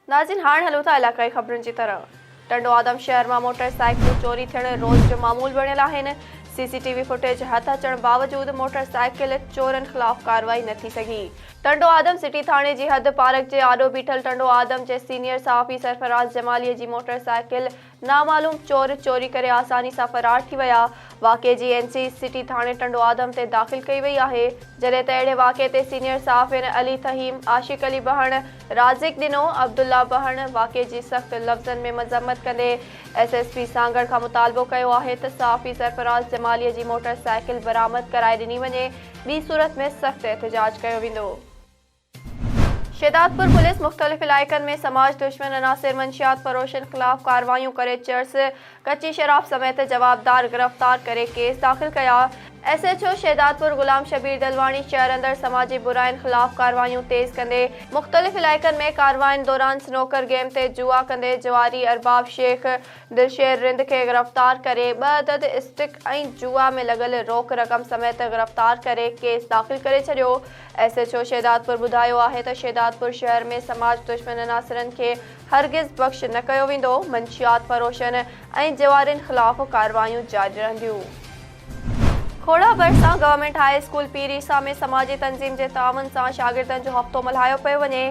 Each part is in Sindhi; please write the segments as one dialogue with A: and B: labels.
A: ناظرين هاڻ هلون ٿا علائقائي خبرن جي طرف ٽنڊو آدم شهر مان موٽر سائيڪلون چوري ٿيڻ روز جو معمول بڻيل آهن C C T V footage هٿ اچڻ باوجود موٽر سائيڪل چورن خلاف ڪارروائي نه ٿي سگهي ٽنڊو آدم سٽي ٿاڻي جي حد پارڪ جي آڏو بيٺل ٽنڊو آدم جي سينيئر صحافي سرفراز جمالي جي موٽر سائيڪل نامعلوم چور چوري ڪري آساني سان فرار ٿي ويا، واقعي جي اين سي سٽي ٿاڻي ٽنڊو آدم تي داخل ڪئي وئي آهي، جڏهن ته اهڙي واقعي تي سينيئر صحافين علي فهيم، عاشق علي بهڻ، رازق ڏنو، عبدالله بهڻ واقعي جي سخت لفظن ۾ مذمت ڪندي ايس ايس پي سانگهڙ کان مطالبو ڪيو آهي ته صحافي سرفراز جمالي جي موٽر سائيڪل برآمد ڪرائي ڏني وڃي ٻي صورت ۾ سخت احتجاج ڪيو ويندو. شهدادپور پوليس مختلف علائقن ۾ سماج دشمن عناصر منشيات فروشن خلاف ڪارروايون ڪري چرس، ڪچي شراب سميت جوابدار گرفتار ڪري ڪيس داخل ڪيا، S H O Shahdadpur Ghulam Shabbir Dalwani شهر اندر سماجي براين خلاف ڪارروايون تيز ڪندي مختلف علائقن ۾ ڪاررواين دوران سنوڪر گيم تي جوا ڪندي جواري ارباب شيخ دلشير رند کي گرفتار ڪري ٻه عدد اسٽڪ ۽ جوا ۾ لڳل روڪ رقم سميت گرفتار ڪري ڪيس داخل ڪري ڇڏيو ايس ايڇ او شهدادپور ٻڌايو آهي ته شهدادپور شهر ۾ سماج دشمن عناصرن کي هرگز بخش نه ڪيو ويندو، منشيات فروشن ۽ جوارين خلاف ڪارروايون جاري رهنديون. کوڙا ڀرسان government high school Pir Isa ۾ سماجي تنظيم جي تعاون سان شاگردن جو هفتو ملهايو پيو وڃي،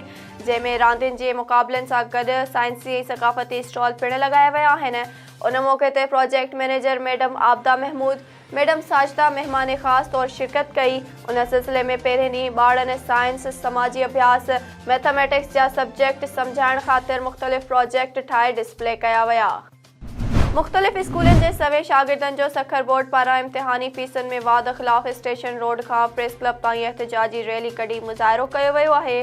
A: جنهن ۾ راندين جي مقابلن سان گڏ سائنسي ۽ ثقافتي اسٽال پڻ لڳايا ويا آهن، ان موقعي تي project manager madam Abida Mahmood, madam Sajida مهمان خاص طور شرڪت ڪئي. ان سلسلي ۾ پهرين ڏينهن ٻارڙن سائنس، سماجي اڀياس، مئٿميٽڪس جا سبجيڪٽ سمجهائڻ خاطر مختلف پراجيڪٽ ٺاهي ڊسپلي ڪيا ويا. مختلف اسڪولن جي سوين شاگردن جو سکر بورڊ پاران امتحاني فيسن ۾ واڌ خلاف اسٽيشن روڊ کان پريس ڪلب تائين احتجاجي ريلي ڪڍي مظاهرو ڪيو ويو آهي.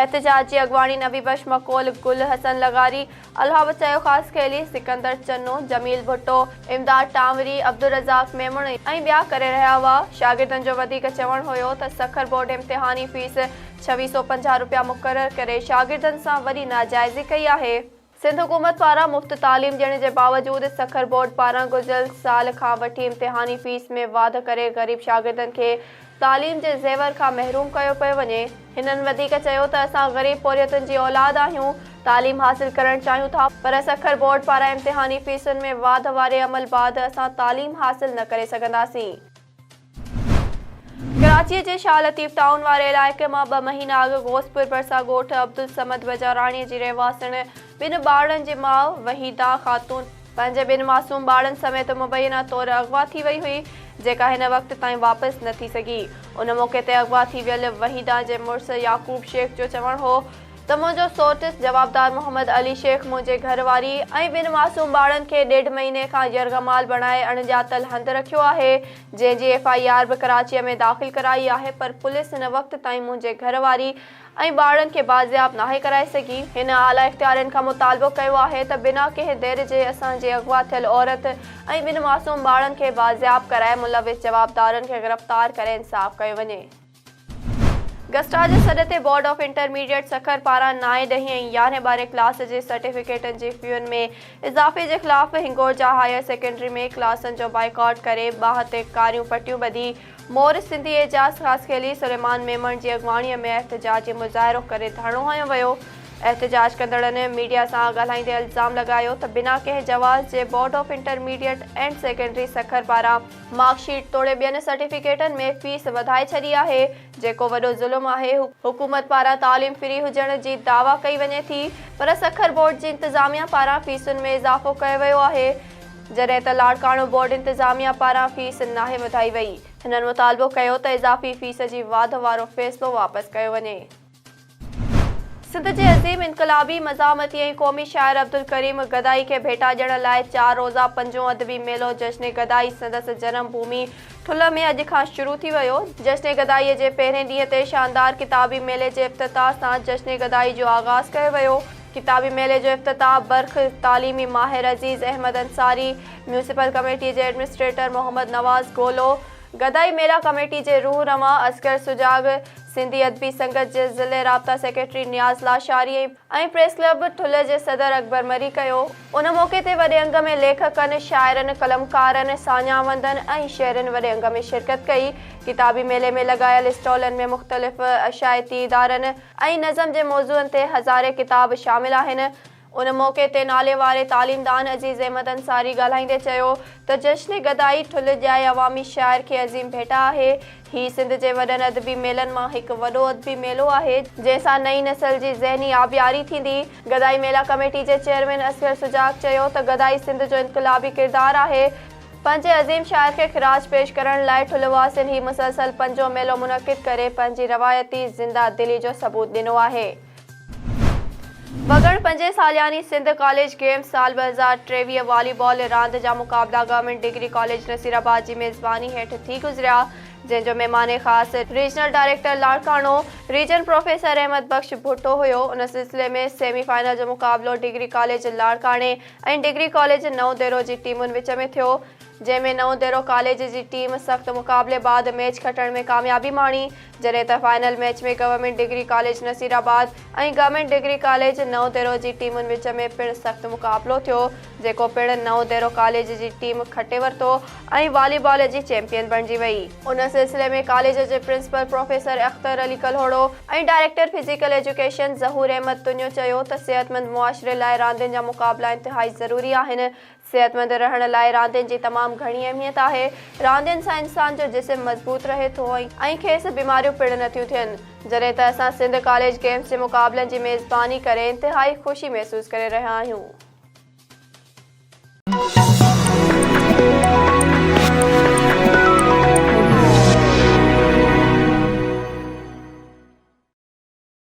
A: احتجاج جي اڳواڻي نبي بخش مقول، گل حسن لغاري، الهاوت چيو خاص خيلي، سڪندر چنو، جميل ڀٽو، امداد ٽانوري، عبدالرزاق ميمڻ ۽ ٻيا ڪري رهيا هئا. شاگردن جو وڌيڪ چوڻ هيو ته سکر بورڊ امتحاني فيس ڇويھ سؤ پنجاھ روپيا مقرر ڪري شاگردن سان وڏي ناجائزي ڪئي آهي. سنڌ حڪومت پاران مفت تعليم ڏيڻ جي باوجود سکر بورڊ پاران گذريل سال کان وٺي امتحاني فيس ۾ واڌ ڪري غريب شاگردن کي تعليم جي زيور کان محروم ڪيو پيو وڃي. هنن وڌيڪ چيو ته اسان غريب پورهيتن جي اولاد آهيون، تعليم حاصل ڪرڻ چاهيون ٿا پر سکر بورڊ پاران امتحاني فيسن ۾ واڌ واري عمل بعد اسان تعليم حاصل نه ڪري سگهنداسين. ڪراچي جي شاهه لطيف ٽائون واري علائقي مان ٻه مهينا اڳ غوثپور ڀرسان ڳوٺ عبدالصمد بجاراڻي جي رهواسڻ ٻن ٻارڙن جي ماء وحيده خاتون پنهنجي ٻن معصوم ٻارڙن سميت مبينا طور اغوا ٿي وئي هئي جيڪا هن وقت تائين واپس نه ٿي سگهي ان موقعي تي اغوا ٿي ويل وحيده جي مڙس يعقوب شيخ جو چوڻ هو ته منهنجو سورٽس جوابدار محمد علي شيخ منهنجي گهر واري ۽ ٻن معصوم ٻارڙن کي ڏيڍ مهيني کان يرغمال بڻائي اڻ ڄاتل هنڌ رکيو آهي جنهن جي ايف آء آر به ڪراچيء ۾ داخل ڪرائي آهي پر پوليس هن وقت تائين منهنجي گهر واري ۽ ٻارڙن کي بازياب ناهي ڪرائي سگهي. هن اعليٰ اختيارين کان مطالبو ڪيو آهي ته بنا ڪنهن دير جي اسان جي اغوا ٿيل عورت ۽ ٻن معصوم ٻارڙن کي بازياب ڪرائي ملوث جوابدارن کي گرفتار ڪري انصاف ڪيو وڃي. گسٽا جي سڏ تي بورڊ آف انٽرميڊيٽ سکر پاران نائين، ڏهين ۽ يارهين ٻارهين ڪلاس جي سرٽيفڪيٽن جي فيون ۾ اضافي جي خلاف هنگورجا هائير سيڪنڊري ۾ ڪلاسن جو بائيڪاٽ ڪري ٻانهن تي ڪاريون پٽيون ٻڌي مور سنڌي اعجاز خاصخيلي سليمان ميمڻ جي اڳواڻي ۾ احتجاجي مظاهرو ڪري ڌرڻو هنيو ويو احتجاج ڪندڙن ميڊيا سان ڳالهائيندي الزام لڳايو ته بنا ڪنهن جواز جي board of intermediate and secondary Sukkur پاران مارڪ شيٽ توڙي ٻين سرٽيفڪيٽن ۾ فيس وڌائي ڇڏي آهي جيڪو وڏو ظلم آهي، حڪومت پاران تعليم فري هجڻ جي دعويٰ ڪئي وڃي ٿي پر سکر بورڊ جي انتظاميا پاران فيسن ۾ اضافو ڪيو ويو آهي جڏهن ته لاڙڪاڻو بورڊ انتظاميا پاران فيس ناهي وڌائي وئي، هنن مطالبو ڪيو ته اضافي فيس جي واڌ وارو فيصلو واپس ڪيو وڃي. سنڌ جي عظيم انقلابي، مزاحمتي ۽ قومي شاعر عبدالڪريم گدائي کي ڀيٽا ڏيڻ لاء چار روزه پنجون ادبي ميلو جشن گدائي سندس جنم ڀومي ٺلهه ۾ اڄ کان شروع ٿي ويو. جشن گدائيء جي پهرين ڏينهن تي شاندار ڪتابي ميلي جي افتتاح سان جشن گدائي جو آغاز ڪيو ويو. ڪتابي ميلي جو افتتاح برک تعليمي ماهر عزيز احمد انصاري، ميونسپل ڪميٽي جي ايڊمنسٽريٽر محمد نواز گولو، گدائي ميلا ڪميٽي جي روح روان اصغر سجاڳ، سنڌي ادبي سنگت جي ضلعي رابطا secretary Niaz Lashari ۽ press club Thul جي صدر اڪبر مري ڪيو. ان موقعي تي وڏي انگ ۾ ليکڪن، شاعرن، قلمڪارن، ساڃاهوندن ۽ شهرين وڏي انگ ۾ شرڪت ڪئي. ڪتابي ميلي ۾ لڳايل اسٽالن ۾ مختلف اشاعتي ادارن ۽ نظم جي موضوعن تي هزارين ڪتاب شامل آهن. ان موقعي تي ناليواري تعليمدان عزيز احمد انصاري ڳالهائيندي چيو ته جشن گدائي ٺلهه ڄائي عوامي شاعر کي عظيم ڀيٽا آهي. هي سنڌ جي وڏن ادبي ميلن مان هڪ وڏو ادبي ميلو آهي، جنهن سان نئين نسل جي ذهني آبياري ٿيندي. گدائي ميلا ڪميٽي جي چيئرمين اصغر سجاڳ چيو ته گدائي سنڌ جو انقلابي ڪردار آهي، پنهنجي عظيم شاعر کي خراج پيش ڪرڻ لاء ٺلهه واسين هي مسلسل پنجون ميلو منعقد ڪري پنهنجي روايتي زنده دلي جو ثبوت ڏنو آهي. وڳڻ پنجين سالياني سنڌ ڪاليج گيمز سال ٻه هزار ٽيويهه والي بال راند جا مقابلا گورنمينٽ ڊگري ڪاليج نصيرآباد جي ميزباني هيٺ ٿي گذريا جنهن جو مهمان خاص regional director Larkana region professor Ahmed Bakhsh Bhutto هيو ان سلسلي ۾ سيمي فائنل جو مقابلو ڊگري ڪاليج لاڙڪاڻي ۽ ڊگري ڪاليج نئون ديرو جي ٽيمن وچ ۾ ٿيو جنهن ۾ نئون ديرو ڪاليج جي ٽيم سخت مقابلي بعد ميچ کٽڻ ۾ ڪاميابي ماڻي جڏهن ته final match ۾ government degree college Nasirabad ۽ government degree college Naudero جي ٽيمن وچ ۾ پڻ سخت مقابلو ٿيو جيڪو پڻ نئون ديرو ڪاليج جي ٽيم کٽي ورتو ۽ والي بال جي چيمپيئن بڻجي وئي. ان سلسلي ۾ ڪاليج جي principal professor Akhtar Ali Kalhoro ۽ director physical education Zahoor Ahmed Tunio چيو ته صحتمند معاشري لاء راندين جا مقابلا انتهائي ضروري آهن صحتمند رهڻ لاء راندين جي تمام گهڻي اهميت آهي. راندين سان انسان جو جسم مضبوط رهي ٿو ۽ کيس بيماريون پڻ نٿيون ٿين. جڏهن ته اسان سنڌ ڪاليج گيمز جي مقابلن جي ميزباني ڪري انتهائي خوشي محسوس ڪري رهيا آهيون.